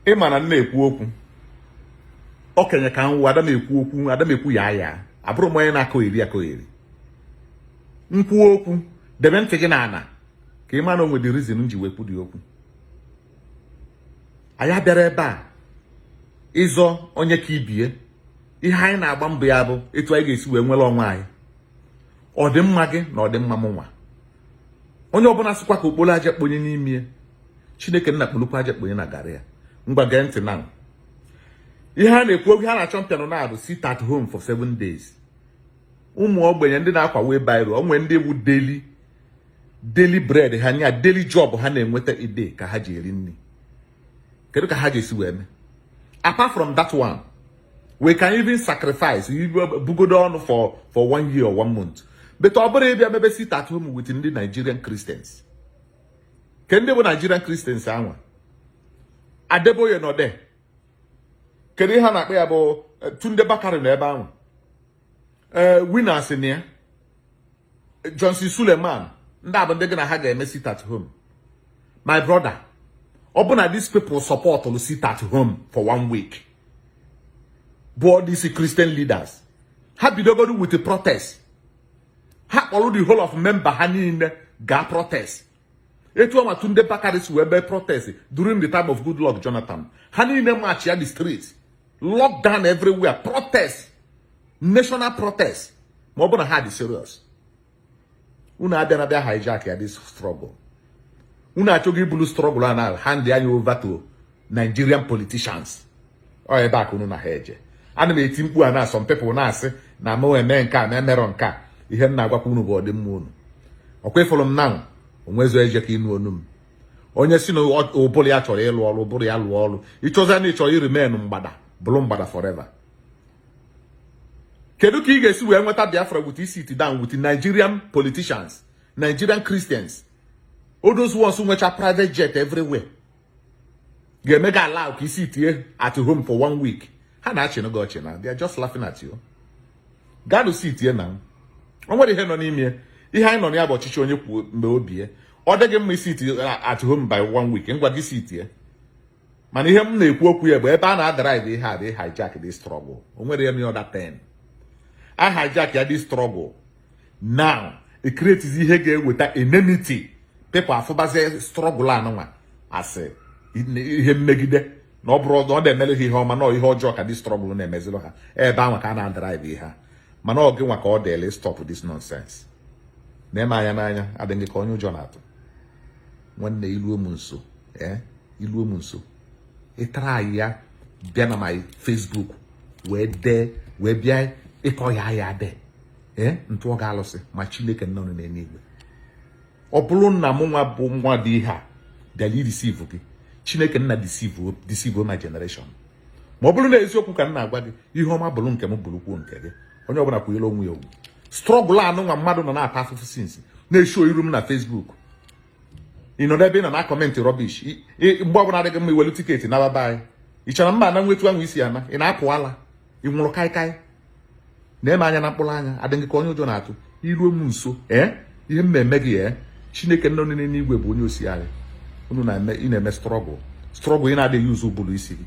ị ma na m na-ekwu okwu okenye ka m wụ ada m ekwu okwu ada m ekwu ya ya abụrụ m onye na-akọ eri akọ eri m kwuo okwu debe ntị gị n'ala ka ị ma na o nwere reason m ji wee kwu dị okwu anyị abịarọ ebe a ịzọ onye ka ibie ihe anyị na-agba mbọ ya bụ etu anyị ga-esi wee nwere onwe anyị ọdịmma gị na ọdịmma mụnwa onye ọbụla sịkwa ka o kporo aja kponye n'ime ya chineke nna kpolukwu aja kponye na garị ya ngwa gee ntị na ihe a na-ekwu oge ha na-achampion na-abụ sit at home for seven days ụmụ ogbenye ndị na-akwa wheelbarrow o nwere ndị bụ daily daily bread ha nya daily job ha na-enweta a day ka ha ji eri nri kedu ka ha ga-esi wee mee apart from that one we can even sacrifice bugodu ọnụ for for one year or one month but ọ bụrọ ịbịa mebe sit at home with ndị Nigerian Christians ke ndị bụ Nigerian Christians anwa Adeboye nọ there kedu ihe a na-akpọ ya bụ eh, Tunde Bakare nọ ebe ahụ ee eh, Winners na ya Johnson Suleman ndị a bụ ndị gị na ha ga-eme sit at home my brother ọ bụ na these people supportụlụ sit at home for one week bụ all these Christian leaders ha bidogodu with protest ha kpọrọ the whole of member ha niile gaa protest etu ahụ Tunde Bakare si wee mee protest during the time of Goodluck Jonathan ha niile marchịa the street lockdown everywhere protest national protest ma ọ bụ na ha dị serious unu abịa na bịa hijackịa this struggle unu achọghị ibulu struggle a na handịa over to Nigerian politicians ọ ebe a ka unu na ha eje ana m eti mkpu a na some people na-asị na m eme nke a na emerọ nke a ihe m na-agwakwa unu bụ ọdịmma unu ọkwa ị fụrụ m na onwezo eje ka ịnụ onu m onye si na ụbụrụ ya chọrọ ịlụ ọrụ ụbụrụ ya lụọ ọrụ ịchọzi na ị chọrọ ịremain mgbada bụrụ mgbada forever kedu ka ị ga-esi wee nweta Biafra with isit down with Nigerian politicians Nigerian Christians all those ones nwecha private jet everywhere ga-eme gị ala ka ị sitie at home for one week ha na-achịnụ gị ọchị na they are just laughing at you gaanụ sitie na o nwere ihe nọ n'ime ihe anyị nọ na ya bụ ọchịchị onye kwuo mgbe obie ọ dịghị mma ị sitie at home by one week ngwa gị sitie mana ihe m na-ekwu okwu ya bụ ebe a na-adrive ihe a ịhijack the struggle o nwere ya na ọda ten a hijackịa the struggle now e create ihe ga-eweta enmity people afụbazie struggle anụnwa asị ihe mmegide na ọ bụrụ na ọ na-emere ha ihe ọma na ihe ọjọọ ka dị struggle na-emezilụ ha ebe ahụ ka a na-adrive ihe ha mana ọ gị nwa ka ọ dịele stop this nonsense na-eme anya n'anya adị gị ka onye ụjọ na-atụ nwanne iluo m nso ee iluo m nso ịtara anyị ya bịa na my Facebook wee dee wee bịa ịkọ ya ya dee ee ntụ ọ ga-alụsị ma chineke nọ n'eluigwe ọ bụrụ na mụ nwa bụ nwa dị ihe a bịara ideceive gị chineke nna deceive my generation ma ọ bụrụ na eziokwu ka m na-agwa gị ihe ọma bụrụ nke m bụrụkwuo nke gị onye ọbụla kwanyere onwe ya ugwu struggle anụ nwa mmadụ nọ na-ata afụfụ since na-eshow iru m na Facebook ị nọ n'ebe ị nọ na-acomment rubbish mgbe ọbụla adịghị mma iwelu ticket na baba anyị ị chọrọ mma na nwetu anwụ isi ana ị na-apụ ala ị ṅụrụ kaikai na-eme anya na mkpụrụ anya adị gị ka onye ụjọ na-atụ iruo m nso ee eh? ihe m na-eme gị ee eh? chineke nna nọ n'igwe bụ onye osiali unu na-eme struggle struggle ị na-adịghị use ụbụrụ isi gị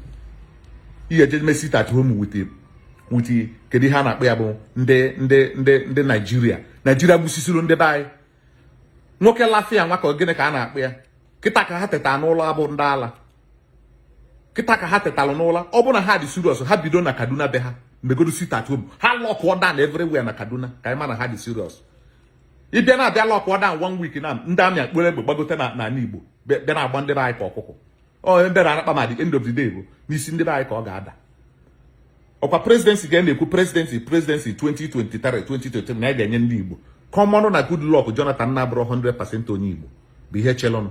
ihe eje me sit at home with with kedu ihe a na-akpọ ya bụ ndị ndị ndị ndị Nigeria Nigeria gbusisiri ndị be anyị nwoke lafia nwa ka gịnị ka a na-akpọ ya kịta ka ha teta n'ụla ọ bụ ndị ala kịta ka ha tetalụ n'ụla ọ bụ na ha dị serious ha bido na kaduna be ha megodu sit at home ha lockụọ down everywhere na kaduna ka anyị ma na ha dị serious ịbịa na-abịa lockụọ down one week na ndị army akpọrọ egbe gbagote na n'ala igbo bịa na-agba ndị be anyị ka ọkụkọ onye bịara anakpa ma the end of the day bụ n'isi ndị be anyị ka ọ ga-ada ọkwa presidency ka ị na-ekwu presidency presidency 2023 2023 na ya ga-enye ndị Igbo kọmọnụ na Goodluck Jonathan na-abụrọ 100% onye Igbo bụ ihe chelụnụ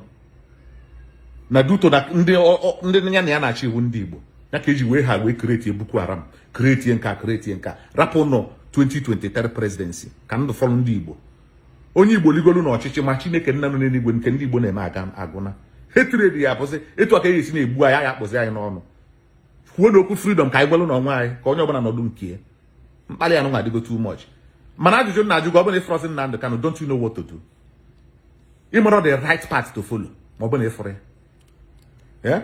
na due to na ndị ya na ya na-achị iwe ndị Igbo ya ka eji wee ha wee kretie Boko Haram kretie nka kretie nka rapụnụ 2023 presidency ka ndụ fọrọ ndị Igbo onye Igbo ligolu na ọchịchị ma Chineke nna nọ n'eluigwe nke ndị Igbo na-eme aga agụna hatred ya bụzi etu aka ya esi na-egbu anyị ya akpụzi anyị n'ọnụ kwuonụ okwu freedom ka anyị nwelụ onwe anyị ka onye ọbụla nọdụ nke ya mkpali anụwa adịgo too much mana ajụjụ m na-ajụ gị ọ bụlụ na ịfụrọzi Nnamdi Kanu don't you know what to do ịmarọ the right path to follow ma ọ bụlụ na ịfụrọ ya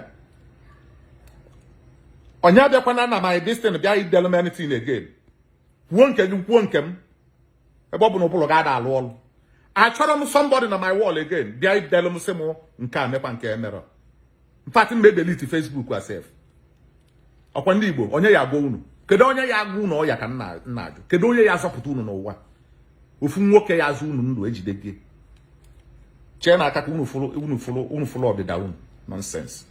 onye abịakwana na my this thing bịa idelu m anything again kwuo nke gị kwuo nke m ebe ọ bụ na ụbụrụ gị ada alụ ọrụ achọrọ m somebody na my wall again bịa idelu m sị m nke a mekwa nke emere in fact m ga-edelete Facebook a sef ọkwa ndị Igbo onye ya agwa unu kedu onye ya agwa unu ọ ya ka m na-ajụ kedu onye ya azọpụta unu n'ụwa ofu nwoke ya azụ unu ndụ ejide gị chee na aka ka unu fụrụ ọdịda unu nonsense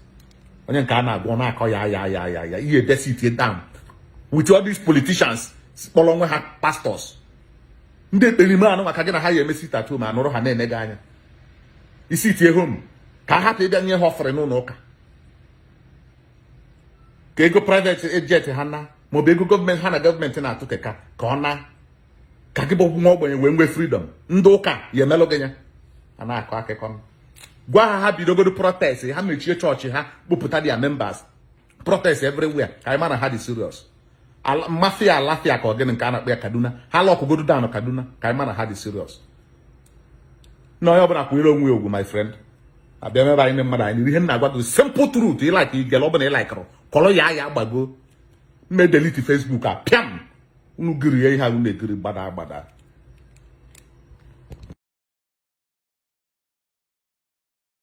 onye nke a na-agụ ọ na-akọ ya ya ya ya ya ihe edesi itie down with all these politicians kpọrọ onwe ha pastors ndị ekperima anụ maka gị na ha ya eme sit at home anụrụ ha na-ene gị anya ị sitie home ka a hapụ ịbịa nye ha offering n'ụlọ ụka ka ego private jet ha na maọbụ ego gọọmenti ha na gọọmenti na-atụ keka ka ọ na ka gị bụ nwa ogbenye wee nwee freedom ndị ụka ya emelụ gị ya a na-akọ akụkọ m gwa ha ha bidogodo protest ha mechie chọọchị ha kpụpụta their members protest everywhere ka anyị mara ha dị serious mafia alafia ka ọ gịnị nke a na-akpọ ya Kaduna ha lọkụgodo down Kaduna ka anyị mara ha dị serious na onye ọbụla kwanyere onwe ya ugwu my friend abịa m ebe anyị mmadụ anyị ihe m na-agwa gị simple truth ị like i gele ọbụla ị likeụrụ kọrọ ya ya gbago m e delete Facebook a pịam unu kiri ya ihe a unu na-ekiri gbada agbada